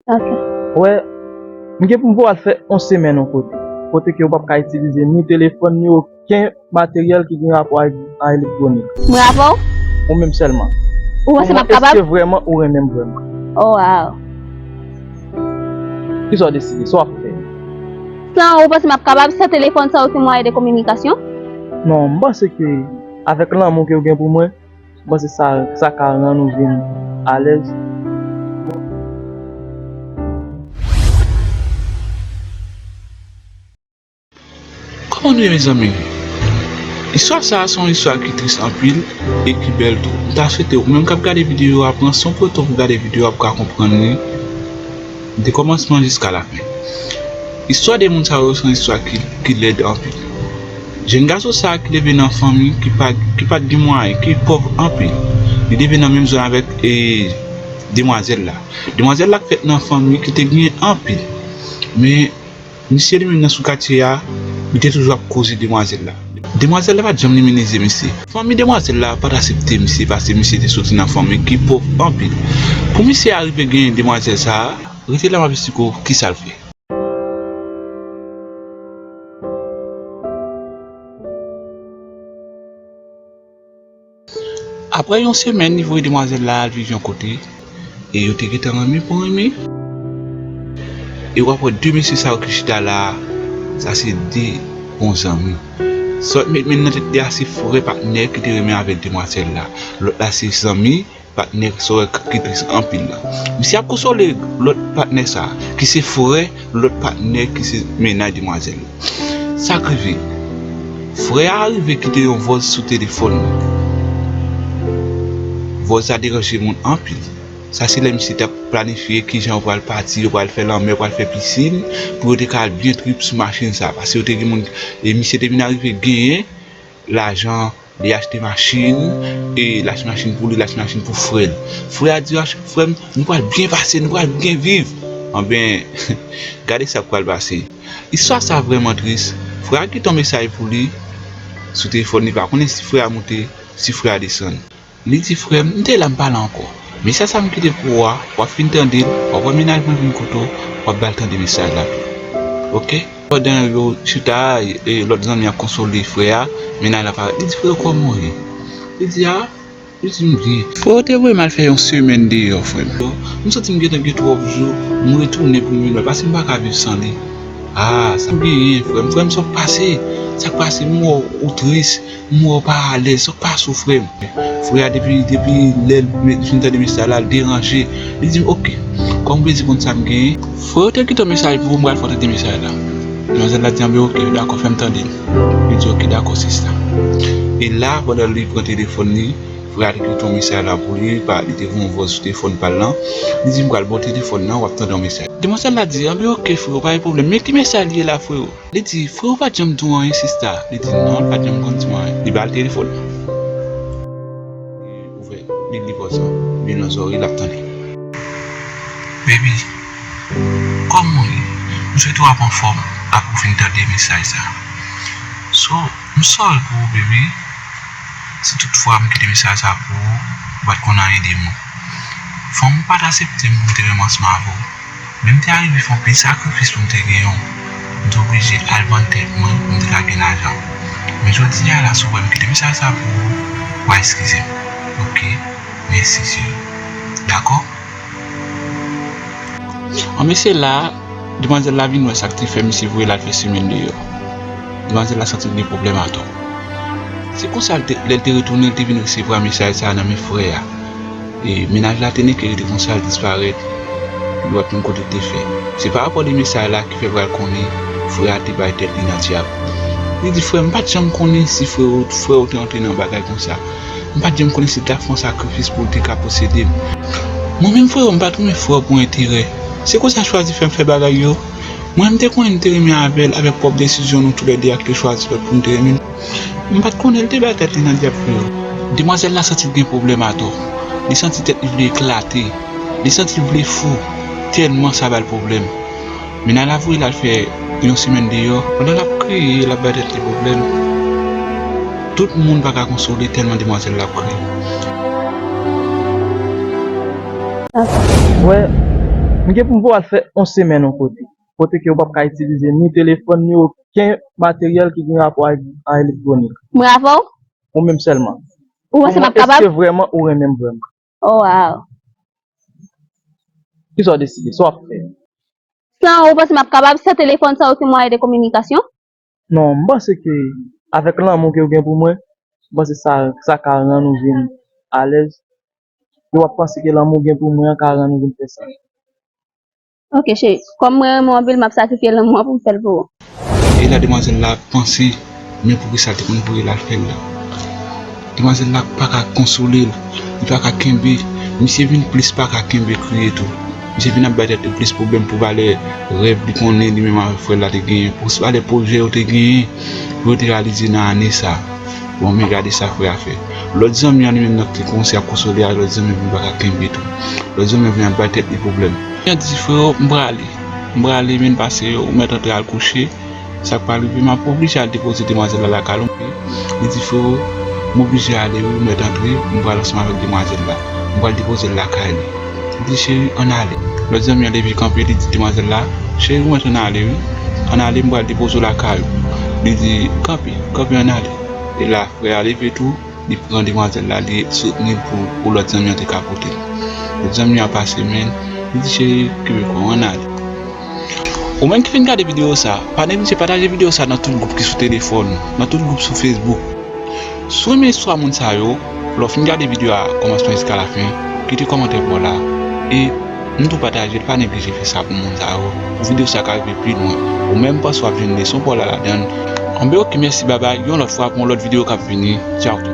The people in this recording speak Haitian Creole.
Ok. Wè, m gen pou m pou al fè yon semèn yon kote, kote ke ou pap ka itilize ni telefòn ni oken materyèl ki gen rapò ak elektwonik. M bravo w? Ou menm sèlman. Ou panse m ap kapab? Eske vrèman ou renmen m vrèman? Oh wow! Ki sa w deside? Sa w ap fè? San ou, ou panse m ap kapab? San telefòn, san oken mwayen de kominikasyon? Non, m panse ke avèk lanmou ke ou gen pou mwen, Mwen se sa sa ka rann ou vin alèz. Kòman nou ye mezanmi? Istwa sa a se yon istwa ki tris anpil e ki bèl tou. M ta swete ou menm k ap gade videyo a pran san w pran tan pou w gade videyo a pou w ka konprann li. De kòmansman jiska lafen. Istwa 2 moun sa yo son istwa ki lèd anpil. Jèn gason sa ki leve nan fanmi ki pat gen mwayen, ki pòv anpil. Li leve nan menm zòn avèk demwazèl la. Demwazèl la fèt nan fanmi ki te gen anpil. Men. Misye li menm nan sou katye a, li te toujou ap koze demwazèl la. Demwazèl la pa t janm limine zye misye. Fanmi demwazèl la pa t asepte misye pase misye te soti nan fanmi ki pov anpil. Pou misye arive genyen demwazèl sa a, rete la m ap esplike w kisa l fè. Aprè yon semèn li voye demwazèl la al viv yon kote e yo te gentan renmen pou renmen e wap wè 2 mesye sa yo ki chita la sa se 2 bon zanmi sa wap met menm nan tèt li a se frè patnè ki te renmen avèk demwazèl la lòt la se zanmi. Patnè Sorel kap ki tris anpil la. Misye ap konsole lòt patnè sa ki se frè lòt patnè ki se mennaj demwazèl la. Sak rive? Frè a rive kite yon vòs sou telefòn li. Vòs la deranje moun anpil. Sa se lè misye tap planifye kijan yo pral pati, yo pral fè lanmè, yo pral fè pisin pou yo te ka al byen trip sou machin sa. Pase yo te gen moun e misye te vin arive genyen. lajan li achte machin e li achte machin pou li li achte machin pou frèl frè a di achte frèm nou pral byen pase nou pral byen viv anben gade sak pral pase istwa sa vrèman tris frè a kite yon mesaj pou li sou telefòn li pa konnen si frè a moute si frè a desann. Li di frè m, m te la m pa la ankò. Mesaj sa m kite pou ou a, w ap fin tande l, w ap wè mennaj mwen vin koute w, w ap ba l tande mesaj la tou. Ok. Pandan yo chita a, lòt zanmi an ap konsole frè a, mennaj la parèt, li di frè kòman w ye? Li di a, li di m byen. Frè ou te voye m al fè yon semèn deyò frè m. M santi m gen tan gen twòp jou, m retounen pou m vin wè l paske m pa ka viv san li. A, sa m genyen frè m? Frè m sa w pase? Sa k pase? M wè w ou tris. M wè w pa alèz, sa k pas ou frè m? Frè a depi depi lè l fin tande mesaj la, l deranje. Li di m ok, kòm w vle di konn sa m genyen. Frè yo te kite yon mesaj pou ou, m pral fè w tande mesaj la. Demwazèl la di anben ok, dakò fè m tande l. Li di ok dakò sista. E la pandan li pran telefòn li, frè a te kite yon mesaj la pou li, pa li te gen yon vwa sou telefòn pa l lan. Li di m pral ba w telefòn nan, w ap tande yon mesaj. Demwazèl la di anben ok freo pa gen pwoblèm. Men ki mesaj li ye la freo? Li di, Frè ou pa t janm di w anyen sista? Li di, Non, l pa t janm konn di m anyen. Li ba l telefòn nan. Li ouvè, li li vòz lan. Li nan zòrèy l ap tande. Baby, kòman w ye? M swete w ap anfòm apre w fin tande mesaj sa. So, m sòri pou ou baby, si tout fwa m kite mesaj sa pou ou, ou pa t konn anyen de m. Fò m pa t asepte m pou m te menm anseman avè w. Men m te arive fè anpil sakrifis pou m te gen yon. M te oblije al vann tèt mwen pou m te ka gen lajan. Men jodi a la si w wè m kite mesaj sa pou ou, wa eskize m. Ok. Mèsi cheri. Dakò? An men se la a, demwazèl la vin wè sa k te fè misye voye l al fè semèn deyò. Demwazèl la santi l gen pwoblèm atò. Se konsa lè l te retounen l te vin resevwa mesaj sa a nan men frè a. E mennaj la te neke rete konsa l disparèt li pat konn kote l te fè. Se pa rapò de mesay la ki fè pral konnen frè a te bay tèt li nan dyab. Li di frè m pat janm konnen si frè w te antre nan bagay konsa. M pat janm konnen si l ta fè yon sakrifis pou l te ka posede m. Mwen menm frè w m pat renmen frè w pou enterè. Se koz sa chwazi fè m fè bagay yo. Mwen m te konnen m te renmen avè l avèk pwòp desizyon nou tou lè 2 a ki te chwazi lòt pou nou te renmen. M pat konnen l te bay tèt li nan dyab pou yo. Demwazèl la santi l gen pwoblèm atò. Li santi tèt li vle eklate. Li santi l vle fou tèlman sa ba l pwoblèm. Mena la voye l al fè yon semèn deyò. Pandan l ap kriye, l ap bay tèt li pwoblèm. Tout moun pa ka konsole tèlman demwazèl la ap kriye. Mwen gen pou m voye l al fè yon semèn yon kote. kote ke ou pap ka itilize ni telefòn ni oken materyèl ki gen rapò ak a elektwonik. M ra vè w? Ou menm sèlman. Ou panse m ap kapab? Eske vrèman ou renmen m vrèman? O waw. Kisa w deside? Sa w ap fè? San ou, ou panse m ap kapab? San telefòn sa oken mwayen de kominikasyon? Non, m panse ke avèk lanmou ke ou gen pou mwen, m panse sa, sa ka rann ou vin alèz. Ou ap panse ke lanmou ou gen pou mwen an ka rann ou vin fè sa. Ok cheri, kòm mwen renmen w anpil map sakrifye lanmou an poum fèl pou ou. E la demwazèl la ap panse men poukisa l te konn voye l al fèl la. Demwazèl la paka konsole l, li paka kenbe, misye vin plis paka kenbe kriye tou. Misye vin ap bay tèt li plis pwoblèm pou valè rèv li konnen li menm avèk frè l la te genyen, pou valè pwojè yo te genyen. Yo te reyalize nan ane sa. Bon men gade sa frè a fè. Lòt zanmi an li menm nan ki te kòmanse ap konsole a lòt zanmi an vin pa ka kenbe tou. Lòt zanmi an vin ap bay tèt li pwoblèm. Li ap di frè oh m prale. M prale men pase yo ou mèt antre al kouche sa k pral rive m ap oblije al depoze demwazèl la lakay ou. Li di frè oh m oblije ale wi ou mèt antre m pral ansanm avèk demwazèl la. M pral depoze l lakay li. Li di cheri ann ale. Lòt zanmi an leve kanpe li di demwazèl la, cheri mwen antre nan ale wi, ann ale m pral depoze w lakay ou. Li di kanpe, kanpe ann ale. E la frè a leve tou li pran demwazèl la li soutni l pou lòt zanmi an te ka pote l. Lòt zanmi an pase men l, li di cheri kenbe kò w ann ale. Ou menm ki fin gade video sa, pa neglije pataje video sa nan tout gwoup ki sou telefòn ou, nan tout gwoup sou Facebook. Si w renmen istwa moun sa yo, lè w fin gade video a kòmansman jiska lafen, kite kòmantè pa w la e m di w pataje l pa neglije fè sa pou moun sa yo pou video sa ka rive pi lwen. Ou menm m panse w ap jwenn leson pa w la ladan l. Anben ok mèsi babay yon lòt fwa pou yon lòt video k ap vini tchao tout.